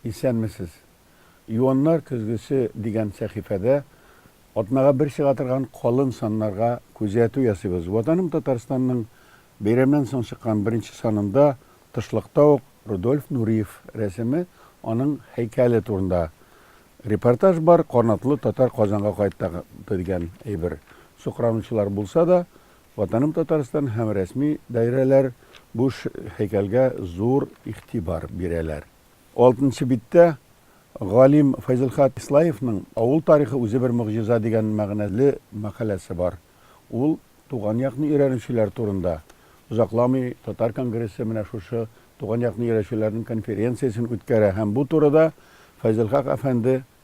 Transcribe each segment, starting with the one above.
Исәнмесез! Юаннар көзгесе дигән сәхифәдә атнага бер чыга торган калын саннарга күзәтү ясыйбыз. Ватаным Татарстанның бәйрәмнән соң чыккан беренче санында тышлыкта ук Рудольф Нуриев рәсеме, аның һәйкәле турында репортаж бар, Канатлы татар Казанга кайтты дигән әйбер сукранучылар булса да, Ватаным Татарстан һәм рәсми даирәләр бу һәйкәлгә зур игътибар бирәләр. Алтынчы биттә галим Файзелхат Ислаевның Авыл тарихы үзе бер могҗиза дигән мәгънәле мәкаләсе бар. Ул туган якны өйрәнүчеләр турында. Озакламый татар конгрессы менә шушы туган якны өйрәчүләрнең конференциясен үткәрә һәм бу турыда Файзелхак әфәнде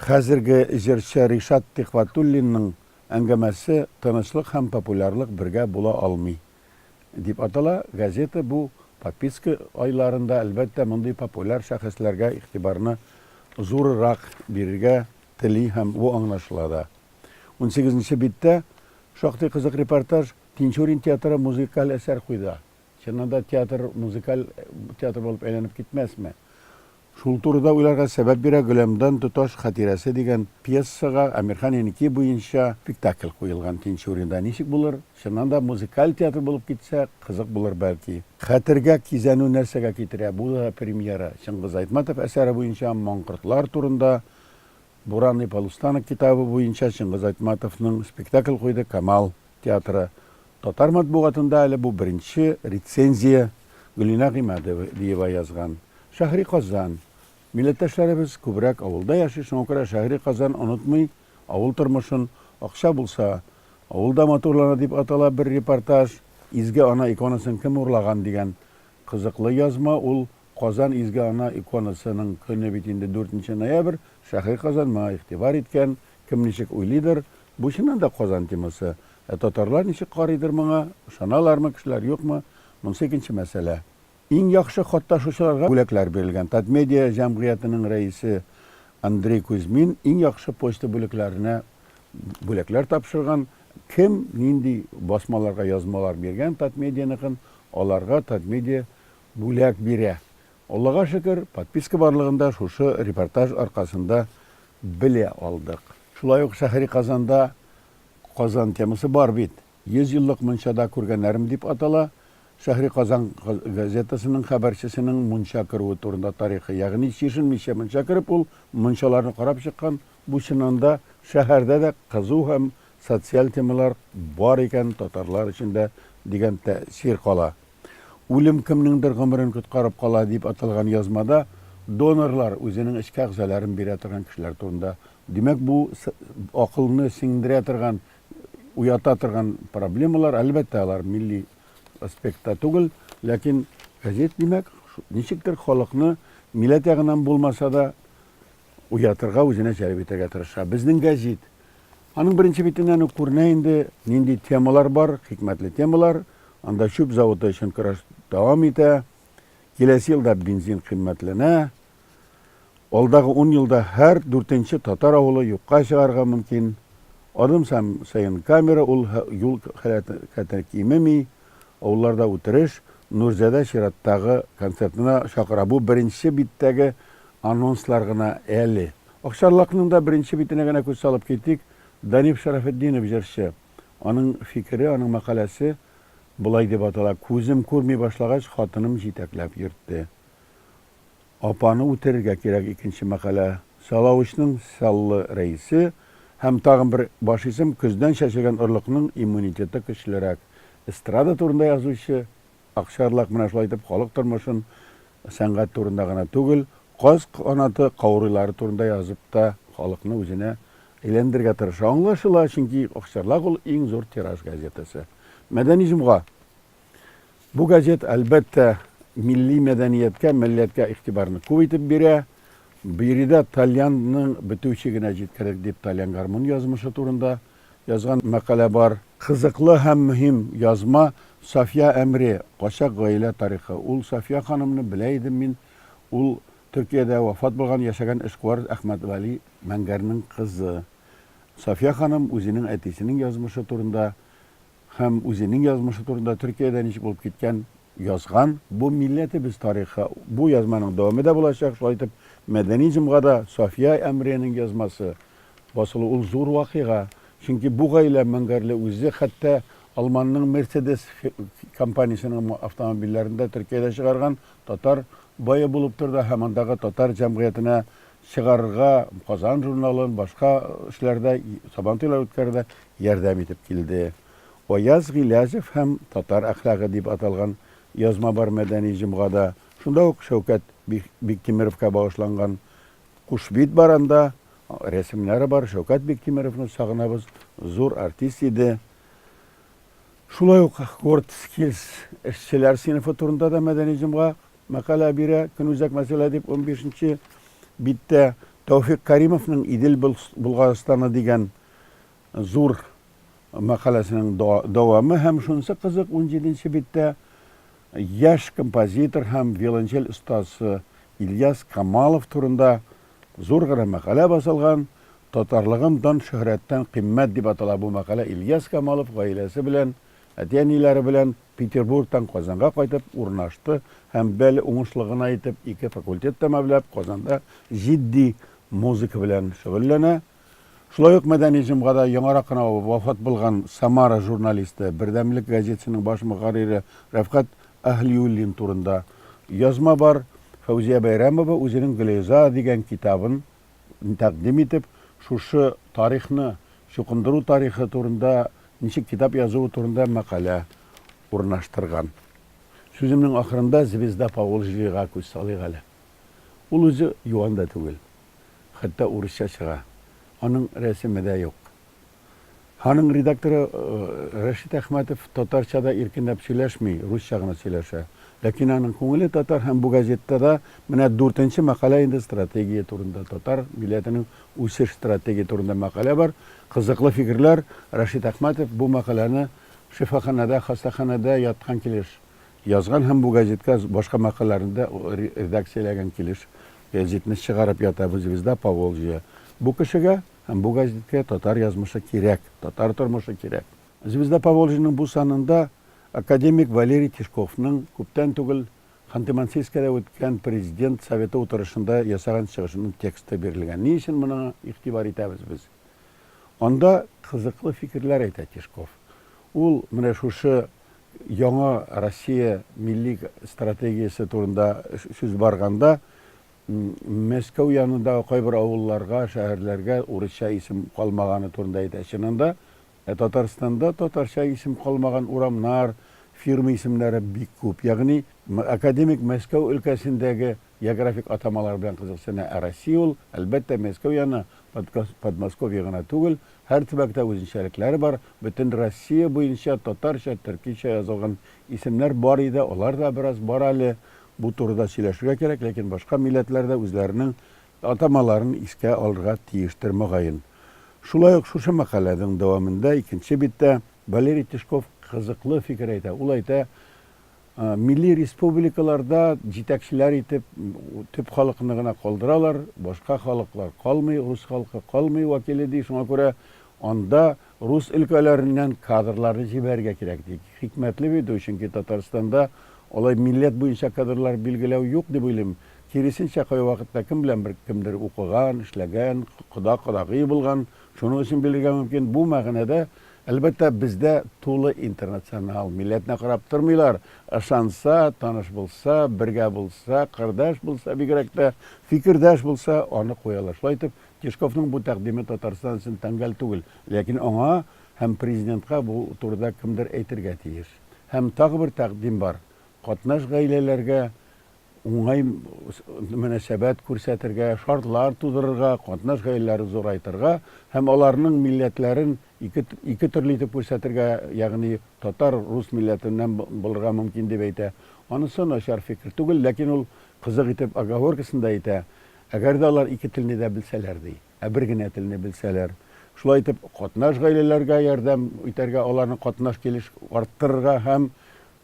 Хәзерге җырчы Ришат Тихватуллинның әңгәмәсе Тынычлык һәм популярлык бергә була алмый, дип атала, газета бу подписка айларында, әлбәттә, мондый популяр шәхесләргә игътибарны зурырак бирергә тели һәм бу аңлашыла да. Унсигез нче биттә шактый кызык репортаж, Тинчурин театры музыкаль әсәр куйды. Чыннан да театр музыкаль театр булып әйләнеп китмәсме? Шул турыда уйларга сәбәп бирә Гөләмдан тоташ хатирәсе дигән пьесага Әмирхан Еники буенча спектакль куелган Тинчуринда ничек булыр? Чыннан да музыкаль театр булып китсә, кызык булыр, бәлки. Хәтергә кизәнү нәрсәгә китерә? Бу да премьера. Чыңгыз Айтматов әсәре буенча маңкортлар турында Буран и полустанок китабы буенча Чыңгыз Айтматовның спектакль куйды Камал театры. Татар матбугатында әле бу беренче рецензия, Гөлинә Гыймадиева язган. Шәһри Казан. Милләттәшләребез күбрәк авылда яши, шуңа күрә Шәһри Казан онытмый авыл тормышын, акча булса, авыл да матурлана дип атала бер репортаж, Изге Ана иконасын кем урлаган дигән кызыклы язма ул, Казан Изге Ана иконасының көне бит инде дүртенче ноябрь, Шәһри Казан моңа игътибар иткән, кем ничек уйлыйдыр, бу чыннан да Казан темасы, Ә татарлар ничек карыйдыр моңа, ышаналармы кешеләр, юкмы, монысы икенче мәсьәлә. Иң яхшы катнашучыларга бүләкләр бирелгән. Татмедиа җәмгыятенең рәисе Андрей Кузьмин иң яхшы почта бүлекләренә бүләкләр тапшырган. Кем нинди басмаларга язмалар биргән Татмедианыкын, аларга Татмедиа бүләк бирә. Аллага шөкер, подписка барлыгын да шушы репортаж аркасында белә алдык. Шулай ук шәһри Казанда Казан темасы бар бит. Йөз еллык мунчада күргәннәрем дип атала. Шәһри Казан газетасының хәбәрчесенең мунча керүе турында тарихы. Ягъни чишенмичә мунча кереп, ул мунчаларны карап чыккан. Бу чыннан да шәһәрдә дә кызу һәм социаль темалар бар икән татарлар эчендә дигән тәэсир кала. Үлем кемнеңдер гомерен коткарып кала дип аталган язмада донорлар үзенең эчке әгъзаларын бирә торган кешеләр турында Димәк, бу акылны сеңдерә торган, уята торган проблемалар, әлбәттә, алар милли аспектта түгел, ләкин газет, димәк, ничектер халыкны миләт ягыннан булмаса да уятырга, үзенә җәлеп итәргә тырыша. Безнең газет. Аның беренче битеннән үк күренә инде, нинди темалар бар, хикмәтле темалар. Анда чүп заводы өчен көрәш дәвам итә. Киләсе елда бензин кыйммәтләнә, Алдагы ун елда һәр дүртенче татар авылы юкка чыгарга мөмкин. Адым сам саен камера ул һә юл хәрәкәте кимеми, авылларда үтереш, Нурзадә чираттагы концертына чакыра бу беренче биттәге анонслар гына әле. Акчарлакның да беренче битенә генә күз салып китик, Даниф Шәрәфетдинов җырчы. Аның фикере, аның мәкаләсе болай дип атала, Күзем күрми башлагач, хатыным җитәкләп йөртте. апаны үтерергә кирәк Икенче мәкалә Сәлавычның Сәллы рәисе һәм тагын бер баш исем Көздән чәчрәгән орлыкның иммунитеты көчлерәк Эстрада турында язучы Акчарлак менә шулай итеп халык тормышын сәнгать турында гына түгел, каз канаты каурыйлары турында язып та халыкны үзенә әйләндерергә тырыша Аңлашыла, чөнки Акчарлак ул иң зур тираж газетасы Мәдәни җомга. Бу газет, әлбәттә, милли мәдәнияткә, милләткә игътибарны күп итеп бирә. Биредә тальянның бетүче генә җиткерер дип тальян гармун язмышы турында язган мәкалә бар. Кызыклы һәм мөһим язма Сафия Әмре, Качак гаилә тарихы. Ул Сафия ханымны белә идем мин, ул Төркиядә вафат булган, яшәгән эшкуар Әхмәтгали Мәңгәрнең кызы. Сафия ханым үзенең әтисенең язмышы турында һәм үзенең язмышы турында Төркиядә ничек булып киткән язган. Бу милләтебез тарихы, бу язманың дәваме дә булачак. Шулай итеп, мәдәни җомга да Сафия Әмриянең язмасы басылу ул зур вакыйга. Чөнки бу гаилә Мәңгәрле үзе хәтта Алманның Мерседес компаниясенең автомобильләрен дә Төркиядә чыгарган татар бае булып тора да һәм андагы татар җәмгыятенә чыгарырга Казан журналын, башка эшләрдә Сабантуйлар үткәрүдә Ярдәм итеп килде. Аяз Гыйләҗев һәм татар әхлагы дип аталган язма бар Мәдәни җомгада, шунда ук Шәүкәт Биктимеровка багышланган Кушбит бар анда рәсемнәре бар, Шәүкәт Биктимеровны сагынабыз, зур артист иде. Шулай ук WordSkills эшчеләр сыйныфы турында да Мәдәни җомга мәкалә бирә, көнүзәк мәсьәлә дип унбишенче биттә Тәүфик Кәримовның Идел Болгарстаны дигән зур мәкаләсенең дәвамы һәм шунысы кызык, унҗиденче биттә яшь композитор һәм виолончель остасы Ильяс Камалов турында зур гына мәкалә басылган, Татарлыгым дан-шөһрәттән кыйммәт дип атала бу мәкалә Ильяс Камалов гаиләсе белән, әти-әниләре белән Петербургтан Казанга кайтып урнашты һәм бәле уңышлы гына итеп ике факультет тәмамлап Казанда җитди музыка белән шөгыльләнә, Шулай ук мәдәни җомгада яңарак кына вафат булган Самара журналисты, Бердәмлек газетасының баш мөхәррире Рәфкать Әһлиуллин турында язма бар. Фәүзия Бәйрәмова үзенең Гөлейза дигән китабын тәкъдим итеп, шушы тарихны, чукындыру тарихы турында, ничек китап язуы турында мәкалә урнаштырган. Сүземнең ахырында Звезда Поволжьега күз салыйк әле. Ул үзе юан да түгел. хәтта урысча чыга. Аның рәсеме дә юк. Аның редакторы Рәшит Әхмәтов татарча да иркенләп сөйләшми, русча гына сөйләшә. Ләкин аның күңеле татар һәм бу газетта да менә дүртенче мәкалә инде стратегия турында, татар милләтенең үсеш стратегия турында мәкалә бар. Кызыклы фикерләр. Рәшит Әхмәтов бу мәкаләне шифаханәдә, хастаханәдә яткан килеш Язган һәм бу газетка башка мәкаләләрне дә редакцияләгән килеш гәзитне чыгарып ятабыз Звезда Поволжья. Бу кешегә һәм бу газеткә татар язмышы кирәк, татар тормышы кирәк. Звезда Поволжьяның бу санында академик Валерий Тишковның күптән түгел Ханты-Мансийскида үткән Президент Советы утырышында ясаган чыгышының тексты бирелгән. Ни өчен моңа игътибар итәбез без? Анда кызыклы фикерләр әйтә Тишков. Ул менә шушы Яңа Россия милли стратегиясе турында сүз барганда, Мәскәү янындагы кайбер авылларга, шәһәрләргә урысча исем калмаганы турында әйтә. Чыннан да, Татарстанда татарча исем калмаган урамнар, фирма исемнәре бик күп. Ягъни, академик Мәскәү өлкәсендәге географик атамалар белән кызыксына, ә Россия ул, әлбәттә, Мәскәү яны, Подмосковье гына түгел, һәр төбәктә үзенчәлекләре бар, бөтен Россия буенча татарча, төркичә язылган исемнәр бар иде, алар да бераз бар әле, бу турыда сөйләшергә кирәк, ләкин башка милләтләр дә үзләренең атамаларын искә алырга тиештер, мөгаен. Шулай ук шушы мәкаләнең дәвамында, икенче биттә, Валерий Тишков кызыклы фикер әйтә, ул әйтә, Милли республикаларда җитәкчеләр итеп төп халыкны гына калдыралар, башка халыклар калмый, рус халкы калмый вәкиле, ди. Шуңа күрә анда рус өлкәләреннән кадрларны җибәрергә кирәк, ди. Хикмәтле бит бу, чөнки Татарстанда алай милләт буенча кадрлар билгеләү юк дип уйлыйм. Киресенчә, кайвакытта кем белән бер кемдер укыган, эшләгән, кода-кодагый булган, шуның өчен бирергә мөмкин. Бу мәгънәдә Әлбәттә, бездә тулы интернационал, милләтне карап тормыйлар, ышанса, таныш булса, бергә булса, кырдаш булса, бигрәк тә, фикердәш булса, аны куялар. Шулай итеп, Тишковның бу тәкъдиме Татарстан өчен тәңгәл түгел, ләкин аңа һәм президентка бу турыда кемдер әйтергә тиеш. Һәм тагы бер тәкъдим бар, катнаш гаиләләргә уңай мөнәсәбәт күрсәтергә, шартлар тудырырга, катнаш гаиләләре зурайтырга һәм аларның милләтләрен ике ике төрле итеп күрсәтергә, ягъни татар рус милләтеннән булырга мөмкин дип әйтә. Анысы начар фикер түгел, ләкин ул кызык итеп оговоркасында әйтә, әгәр дә алар ике телне дә белсәләр, ди. Ә бер генә телне белсәләр. Шулай итеп, катнаш гаиләләргә ярдәм итәргә, аларның катнаш килеш арттырырга һәм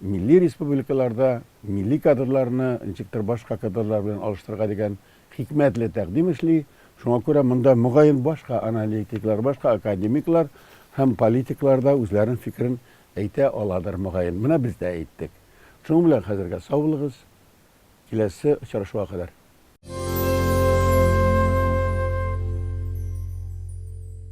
милли республикаларда милли кадрларны ничектер башка кадрлар белән алыштырырга дигән хикмәтле тәкъдим эшли. Шуңа күрә монда, мөгаен, башка аналитиклар, башка академиклар һәм политиклар да үзләренең фикерен әйтә аладыр, мөгаен. Менә без дә әйттек. Шуның белән хәзергә сау булыгыз. Киләсе очрашуга кадәр.